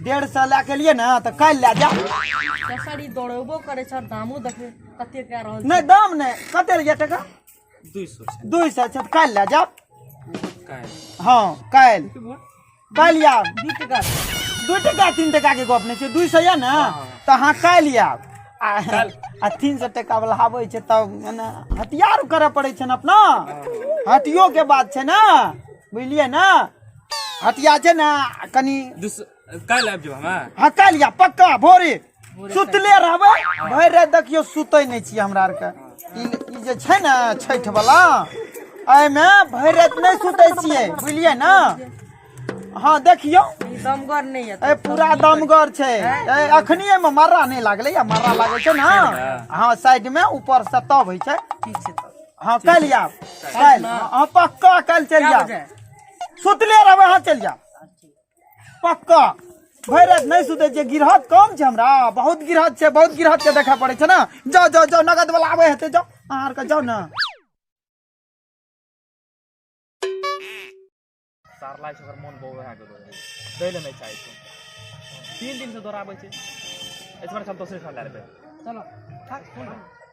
डेढ़ सए लए के लिए ने तऽ काल्हि लए जा सर ई दौड़ेबो करै छै दामो देखबै कते कए रहल छै नहि दाम नहि कते लए टाका दू सए दू सए छै तऽ काल्हि लए जाब हँ काल्हि काल्हि आब दू टाका दू टाका तीन टाका के गप नहि छै दू सए यऽ ने तऽ अहाँ काल्हि आब आ आ तीन सए टाका वाला आबै छै तब मने हथियार करऽ पड़ै छै ने अपना हथियो के बात छै ने बुझलियै ने हटिया जे ना कनी दूस काल्हि आबि जाउ हमे हाँ काल्हि या पक्का भोरे सुतले रहबै भरि राति देखियौ सुतै नहि छी हमरा आरके ई ई जे छै ने छठि बला एहिमे भरि राति नहि सुतै छियै बुझलियै ने हँ देखियौ ई दमगर नहि यऽ ए पूरा दमगर छै ए अखनी एहिमे मर्रा नहि लागलै या मर्रा लागै छै ने हँ साइड मे ऊपर से तब होइ छै ठीक छै तऽ हँ काल्हि आब काल्हि हँ पक्का काल्हि चलि कए जायब बजे सुतले रहबै अहाँ चलि जाउ पक्का भरि राति नहि सुतै छियै गिरहत कम छै हमरा बहुत गिरहत छै बहुत गिरहत के देखा पड़ै छै ने जाउ जाउ जाउ नगद वाला आबै हेतै जाउ अहाँ आरके जाउ ने सारला छै ओकर मोन बौआ भए गेलो रहै दै लए नहि चाहै छै तीन दिन से दौड़ाबै छै एहि दुआरे हम दोसरे ठाम लए लेबै चलो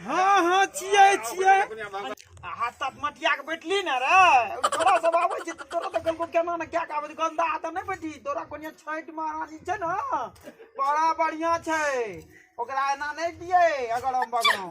हाँ हाँ छियै छियै हाथ साथ मटिया के बैठली ने रे थोड़ा सब आबै छै तोरा तऽ कहलको केना ने क्या कहबै गंदा हाथ नहि बैठी तोरा कोनिया छठि महारानी छै ने बड़ा बढ़िया छै ओकरा एना नहि दियै अगर हम बगड़ौं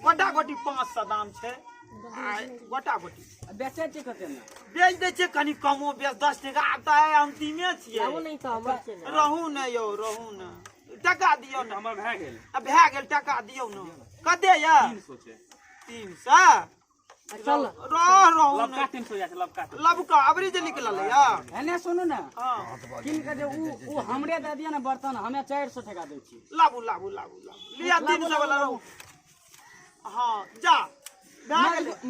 गोटा गोटी पाँच सौ दाम छै आ गोटा गोटी बेचे छै कते में बेच दै छै कनि कमो बेच दस टका आब तऽ आइ अन्तिमे छियै रहू नहि तऽ हमर छै ने रहू ने यौ रहू ने टका दियौ ने हमर भए गेल आ भए गेल टका दियौ ने कते यऽ तीन सौ चल रह रहो लब का तीन सौ जाते लब का लब का अबरी जे निकलल या एने सुनू ने हां किन के जे उ उ हमरे दे दिया ने बर्तन हमें 400 ठेका दे छी लाबू लाबू लाबू लाबू लिया तीन सौ वाला रहो हां जा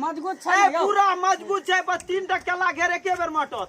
मजगूत छै पूरा मजगूत छै बस तीन टा केला घेरे के बेर मटत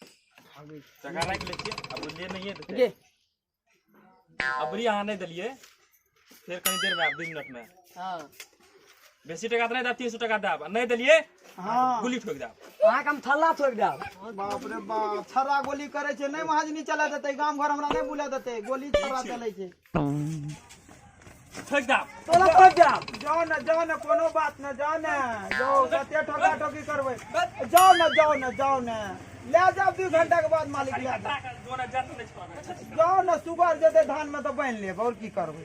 चका राखि लै छियै आ बुझलियै नहिए देतै गे अबरी अहाँ नहि देलियै फेर कनी देर में आब दू मिनट में हाँ बेसी टका तऽ नहि देब तीन सौ टका देब आ नहि देलियै हाँ गुली ठोकि देब अहाँके हम थल्ला ठोकि देब बाप रे बाप छर्रा गोली करे छे नहीं महाजनी चला देते गांव घर हमरा नहीं बुला देते गोली छर्रा चले छे ठोक दा तोरा ठोक दा जाओ ना जाओ ना कोनो बात ना जाओ ना जाओ कते ठोका ठोकी करबै जाओ ना जाओ ना जाओ ना ले जाओ दू घंटा के बाद मालिक ले जाओ जाओ ना सुगर जेतै धान में तऽ बान्हि लेब आओर की करबै